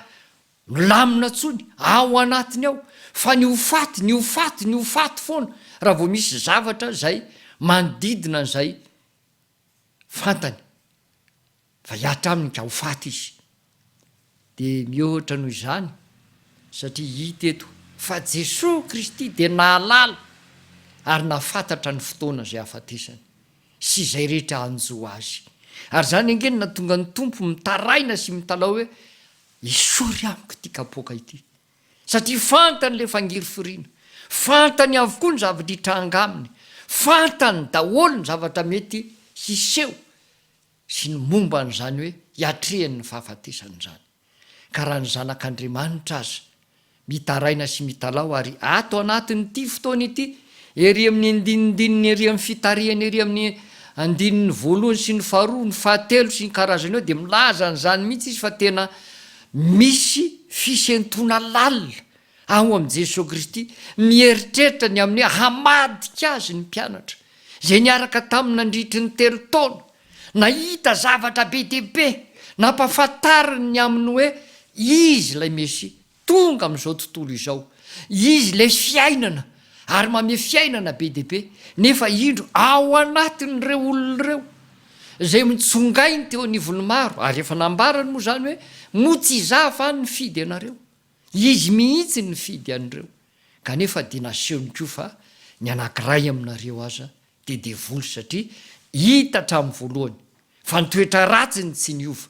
milamina intsony ao anatiny ao fa ny ho faty, ny ho faty, ny ho faty foana raha vao misy zavatra izay manodidina an'izay fantany. Fa hihatra aminy ka ho faty izy. Dia mihoatra noho izany, satria hita eto fa Jesoa Kristy dia nahalala ary nahafantatra ny fotoana izay hahafatesany sy izay rehetra hanjo Azy. Ary izany ange no nahatonga ny Tompo mitaraina sy mitalaho hoe, Esory amiko ity kapoaka ity. Satria fantany ilay fangirifiriana. Fantany avokoa ny zavatra hitranga aminy. Fantany daholo ny zavatra mety hiseho. sy ny momba an'izany hoe hiatrehany ny fahafatesany izany, ka raha ny zanak'Andriamanitra aza mitaraina sy mitalaho ary ato anatin'ity fotoana ity, ery amin'ny andinindininy ery amin'ny fitarihany ery amin'ny andininy voalohany sy ny faharoa, ny fahatelo sy ny karazany eo dia milaza an'izany mihitsy izy fa tena misy fisentoana lalina Ao amin'i Jesoa Kristy, mieritreritra ny amin'ny hamadika Azy ny mpianatra, izay niaraka Taminy nandritry ny telo taona, nahita zavatra be dia be, nampahafantariny ny amin'ny hoe Izy ilay Mesia, tonga amin'izao tontolo izao. Izy ilay Fiainana, ary mamehy fiainana be dia be. Nefa indro, ao anatin'ireo olona ireo, izay mitsongainy teo anivon'ny maro, ary efa nambarany moa izany hoe, Moa tsy Izaho va nifidy ianareo? Izy mihitsy no nifidy an'ireo, kanefa dia nasehony koa fa ny anankiray aminareo aza dia devoly satria hita hatramin'ny voalohany fa ny toetra ratsiny tsy niova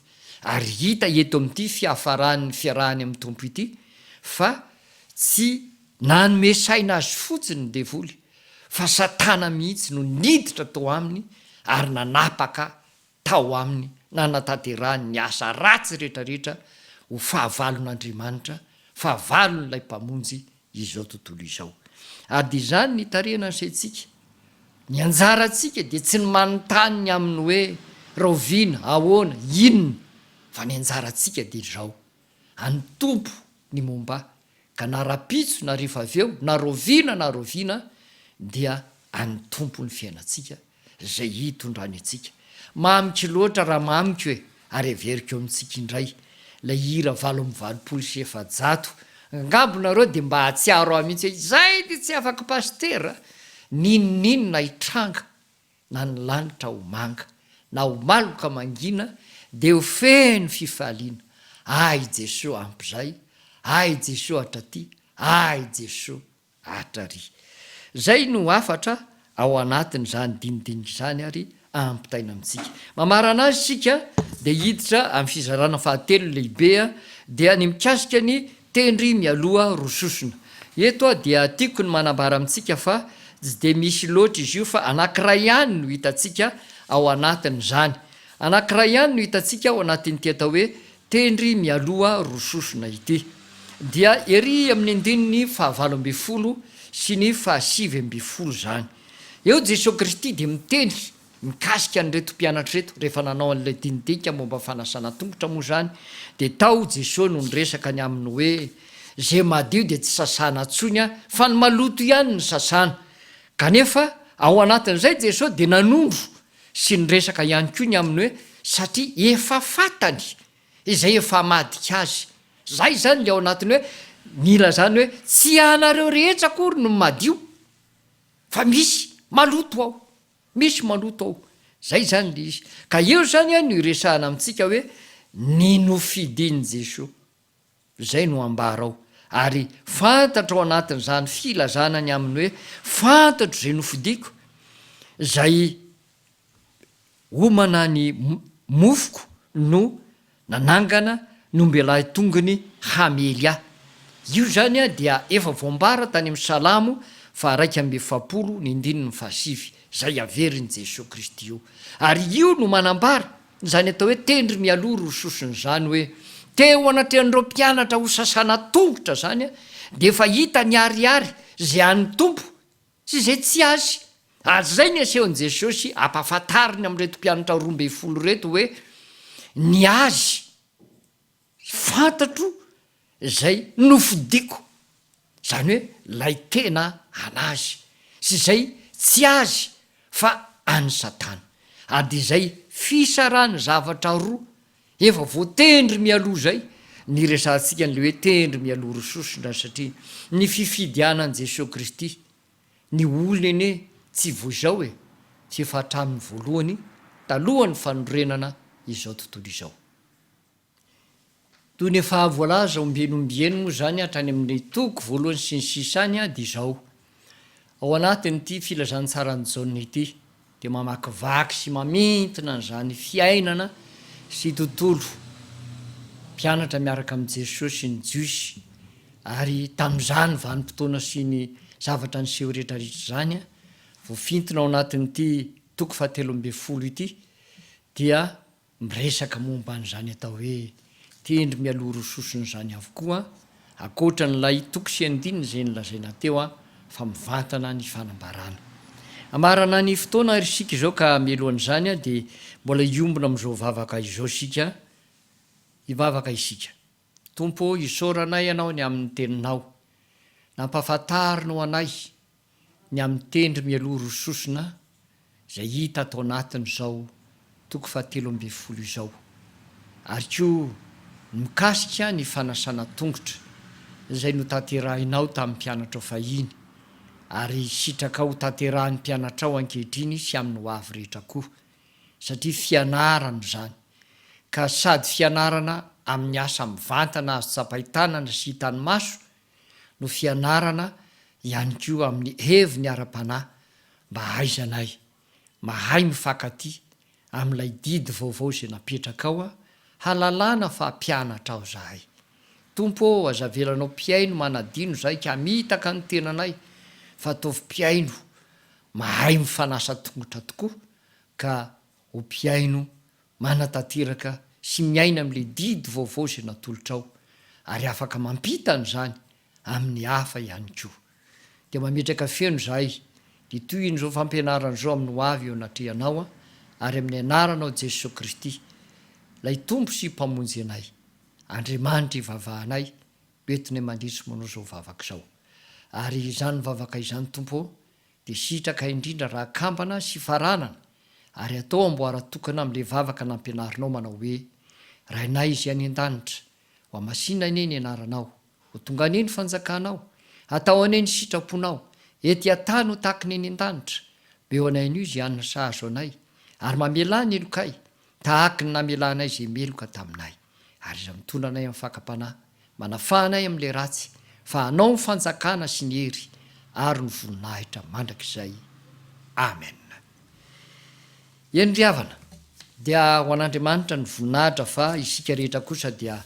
ary hita eto amin'ity fiafaran'ny fiarahany amin'ny Tompo ity fa tsy nanome saina azy fotsiny ny devoly fa Satana mihitsy no niditra tao aminy ary nanapaka tao aminy nanatanterahany ny asa ratsy rehetrarehetra ho fahavalon'Andriamanitra, fahavalon'ilay Mpamonjy izao tontolo izao. Ary dia izany ny tarehina ny saintsika. Ny anjarantsika dia tsy ny manontany ny amin'ny hoe rahoviana, ahoana, inona, fa ny anjarantsika dia izao, An'ny Tompo ny momba ahy, ka na rahampitso na rehefa avy eo, na rahoviana na rahoviana, dia an'ny Tompo ny fiainantsika. Izay hitondrany antsika. Mamiko loatra raha mamiko e ary averiko amintsika indray ilay hira valo amby valopolo sy efajato angamba nareo dia mba hahatsiaro ahy mihitsy hoe izay dia tsy afaka pasitera n'inon'inona hitranga na ny lanitra ho manga na ho maloka mangina dia ho feno fifaliana ahy Jesoa ampy izay ahy Jesoa hatraty ahy Jesoa Art. Ary izay no hafatra ao anatin'izany dinidinika izany ary ampitaina amintsika. Mamarana azy isika dia hiditra amin'ny fizarana fahatelo lehibe dia ny mikasika ny tendry mialoha roa sosona. Eto dia tiako ny manambara amintsika fa tsy dia misy loatra izy io fa anankiray ihany no hitantsika ao anatin'izany. Anankiray ihany no hitantsika ao anatin'ity atao hoe Tendry mialoha roa sosona ity dia ery amin'ny andininy fahavalo ambin'ny folo sy ny fahasivy ambin'ny folo izany. Eo Jesoa Kristy dia miteny mikasika an'ireto mpianatra ireto, rehefa nanao an'ilay dinika momba ny fanasana tongotra moa izany dia tao Jesoa no niresaka ny aminy hoe, izay madio dia tsy sasana intsony fa ny maloto ihany no sasana. Kanefa ao anatin'izay Jesoa dia nanondro Sy niresaka ihany koa ny amin'ny hoe satria efa fantany izay efa hamadika azy. Izay izany ilay ao anatin'ny hoe nilazany hoe tsy ianareo rehetra akory no madio fa misy maloto ao, misy maloto ao. Izay izany ilay izy. Ka eo izany no iresahana amintsika hoe ny nofidin'i Jesoa. Izay no ambarao. Ary fantatro ao anatin'izany filazana ny amin'ny hoe fantatro izay nofidiko, izay homana ny mofoko no nanangana ny ombelahy tongony hamely ahy. Io izany dia efa voambara tany amin'ny Salamo faharaika amby efapolo ny andininy fahasivy, izay averin'i Jesoa Kristy io. Ary io no manambara. Izany atao hoe tendry mialoha roa sosona izany hoe teo anatrehan'ireo mpianatra ho sasana tongotra izany dia efa hita ny ariary izay an'ny Tompo sy izay tsy Azy ary izay ny asehon'i Jesosy ampahafantariny amin'ireto mpianatra roa ambin'ny folo ireto hoe ny Azy Fantatro izay nofidiko, izany hoe ilay tena an'Azy, sy izay tsy Azy fa an'i Satana. Ady izay fisarahana zavatra roa efa voatendry mialoha izay niresahantsika an'ilay hoe tendry mialoha roa sosona, satria ny fifidianan'i Jesoa Kristy ny olony anie tsy vao izao e, tsy efa hatramin'ny voalohany talohan'ny fanorenana izao tontolo izao. Toy ny efa voalaza ombieny ombieny moa izany hatrany amin'ny toko voalohany sy ny sisa any dia izao, ao anatin'ity Filazantsaran'i Jaona ity dia mamakivaky sy mamintina an'izany fiainana sy tontolo mpianatra miaraka amin'i Jesoa sy ny Jiosy ary tamin'izany vanim-potoana sy ny zavatra niseho rehetrarehetra izany voafintina ao anatin'ity toko fahatelo ambin'ny folo ity dia Miresaka momba an'izany atao hoe tendry mialoha roa sosona izany avokoa, ankoatra an'ilay toko sy andininy izay nolazaina teo fa mivantana ny fanambarana. Hamarana ny fotoana àry isika izao ka mialohan'izany dia mbola hiombona amin'izao vavaka izao isika, hivavaka isika. Tompo ô, isaorana Ianao ny amin'ny Teninao. Nampahafantarina ho anay ny amin'ny tendry mialoha roa sosona izay hita ato anatin'izao toko fahatelo ambin'ny folo izao, ary koa ny mikasika ny fanasana tongotra izay notanterahinao tamin'ny mpianatrao fahiny, ary sitraka hotanterahin'ny mpianatrao ankehitriny sy amin'ny hoavy rehetra koa. satria fianarana izany ka sady fianarana amin'ny asa mivantana azo tsapain-tanana sy hitan'ny maso no fianarana ihany koa amin'ny heviny ara-panahy mba hahaizanay mahay mifankatia amin'ilay didy vaovao izay napetrakao hahalalana fa mpianatrao zahay. Tompo ô aza avelanao mpihaino manadino zahay ka hamitaka ny tenanay fa ataovy mpihaino mahay mifanasa tongotra tokoa ka ho mpihaino manatanteraka sy miaina amin'ilay didy vaovao izay natolotrao ary afaka mampita an'izany amin'ny hafa ihany koa. Dia mametraka feno izahay ny tohin'izao fampianarana izao amin'ny ho avy eo anatrehanao ary amin'ny anaranao Jesosy Kristy, Ilay Tompo sy Mpamonjy anay. Andriamanitra ivavahanay. Betne mandritry mono izao vavaka izao. Ary izany vavaka izany, Tompo ô, dia sitraka indrindra raha kambana sy faranana, ary atao amboara tokana amin'ilay vavaka nampianarinao manao hoe, Rainay izay any an-danitra, hohamasinina anie ny anaranao, ho tonga anie ny fanjakanao, hatao anie ny sitraponao, ety an-tany ho tahaka ny eny an-danitra, beo anay anio izay hanina sahazo anay, ary mamelà ny helokay, tahaky ny namelanay izay meloka taminay, ary izay mitondra anay amin'ny fakam-panahy, manafaha anay amin'ilay ratsy, fa anao ny fanjakana sy ny hery ary ny voninahitra mandrakizay. Amen. Eny ry havana, dia ho an'Andriamanitra ny voninahitra fa isika rehetra kosa dia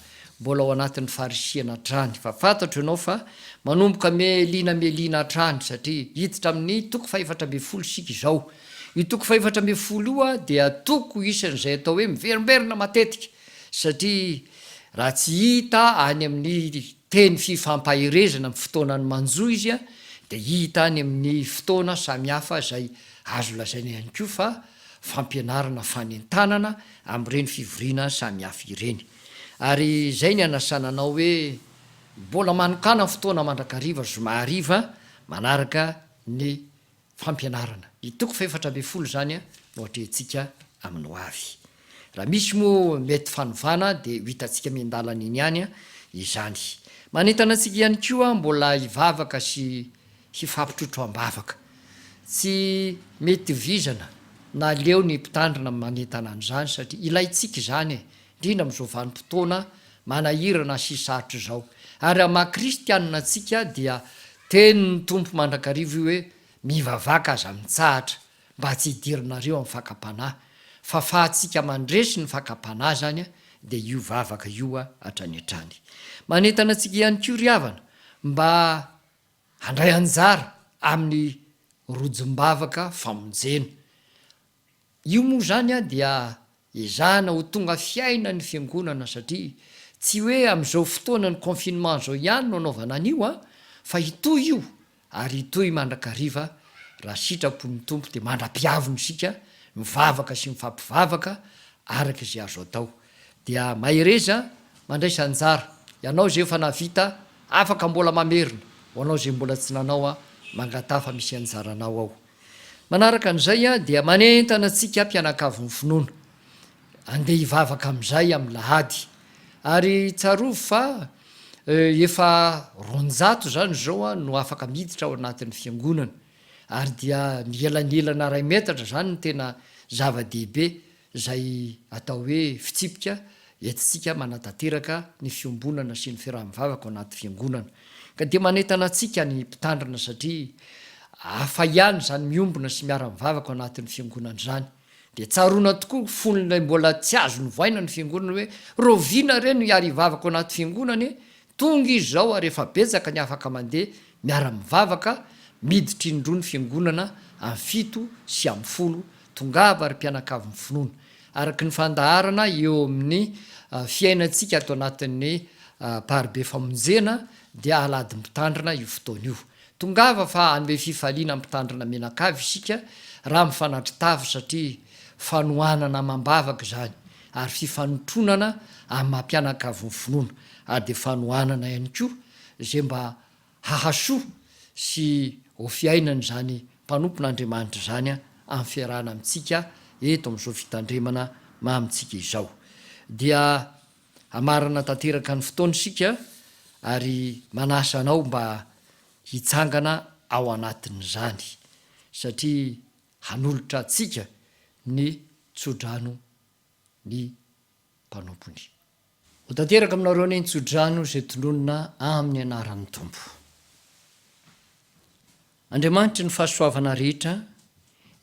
mbola ao anatin'ny farisihana hatrany, fa fantatro ianao fa manomboka melina melina hatrany, satria hiditra amin'ny toko fahefatra ambin'ny folo isika izao, Io toko fahefatra ambin'ny folo io dia toko isan'izay atao hoe miverimberina matetika satria raha tsy hita any amin'ny teny fifampaherezana amin'ny fotoanan'ny manjo izy dia hita any amin'ny fotoana samihafa izay azo lazaina ihany koa fa fampianarana fanentanana amin'ireny fivoriana samihafa ireny. Ary izay ny anasana anao hoe mbola manokana fotoana mandrakariva zoma hariva manaraka ny fampianarana. Ny toko fahefatra ambin'ny folo izany no atrehintsika amin'ny ho avy. Raha misy moa mety fanovana dia ho hitantsika miandalana eny ihany izany. Manentana antsika ihany koa aho mbola hivavaka sy hifampitrotro am-bavaka. Tsy mety ho vizana na leo ny Mpitandrina manentana an'izany satria ilaintsika izany e! indrindra amin'izao vanim-potoana manahirana sy sarotra izao. Ary amin'ny maha kristianina antsika dia tenin'ny Tompo mandrakariva io hoe, Mivavaka aza mitsahatra, mba tsy hidiranareo amin'ny fakam-panahy. Fahafahantsika mandresy ny fakam-panahy izany dia io vavaka io hatrany hatrany. Manentana antsika ihany koa ry havana mba handray anjara amin'ny rojom-bavaka famonjena. Io moa izany dia ezahana ho tonga fiaina ny fiangonana satria tsy hoe amin'izao fotoanan'ny confinement izao ihany no anaovana an'io an, fa hitohy io ary hitohy mandrakariva raha sitrapon'ny Tompo dia mandra-piaviny isika mivavaka sy mifampivavaka araka izay azo atao. Dia mahereza mandraisa anjara ianao izay efa nahavita afaka mbola mamerina ho anao izay mbola tsy nanao an, mangataha fa misy anjaranao ao. Manaraka an'izay dia manentana antsika mpianakavy finoana, andeha hivavaka amin'izay amin'ny lahady. Ary tsarovy fa efa roanjato izany izao no afaka miditra ao anatin'ny fiangonana, ary dia mielanelana iray metatra izany no tena zava-dehibe. izay atao hoe fitsipika entintsika manatanteraka ny fiombonana sy ny fiaraha-mivavaka ao anaty Fiangonana. Ka dia manentana antsika ny Mpitandrina satria hafa ihany izany miombona sy miara-mivavaka ao anatin'ny Fiangonana izany. Dia tsaroana tokoa ny fon'ilay mbola tsy azo novaina ny Fiangonana hoe, Rahoviana re no hiara-hivavaka ao anaty Fiangonana e? Tonga izao ary efa betsaka ny afaka mandeha miara-mivavaka miditra indroa ny fiangonana amin'ny fito sy amin'ny folo, tongava ry mpianakavy ny finoana. Araka ny fandaharana eo amin'ny fiainantsika ato anatin'ny Mparibe Famonjena dia Alahady Mpitandrina io fotoana io. Tongava fa hanome fifaliana ny Mpitandrina mianakavy isika raha mifanatri-tafo satria fanohanana amam-bavaka izany. ary fifanotronana amin'ny maha mpianakavy ny finoana, ary dia fanohanana ihany koa izay mba hahasoa sy ho fiainan'izany mpanompon'Andriamanitra izany amin'ny fiarahana amintsika eto amin'izao fitandremana maha amintsika izao. Dia hamarana tanteraka ny fotoana isika ary manasa anao mba hitsangana ao anatin'izany satria hanolotra antsika ny tsodrano ny mpanompony. Ho tanteraka aminareo anie ny tsodrano izay tononina amin'ny anaran'ny Tompo. Andriamanitry ny fahasoavana rehetra,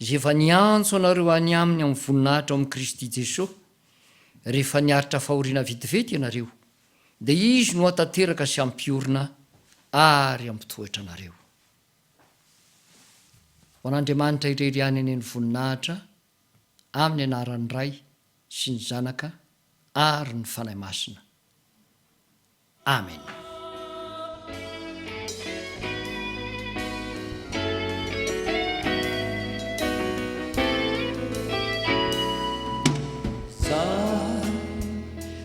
izay efa niantso anareo any Aminy amin'ny voninahitra ao amin'i Kristy Jesoa, rehefa niaritra fahoriana vetivety ianareo, dia Izy no hahatanteraka sy hampiorina ary hampitoetra anareo. Ho an'Andriamanitra irery ihany anie ny voninahitra, amin'ny anaran'ny Ray sy ny Zanaka ary ny Fanahy Masina. Amena.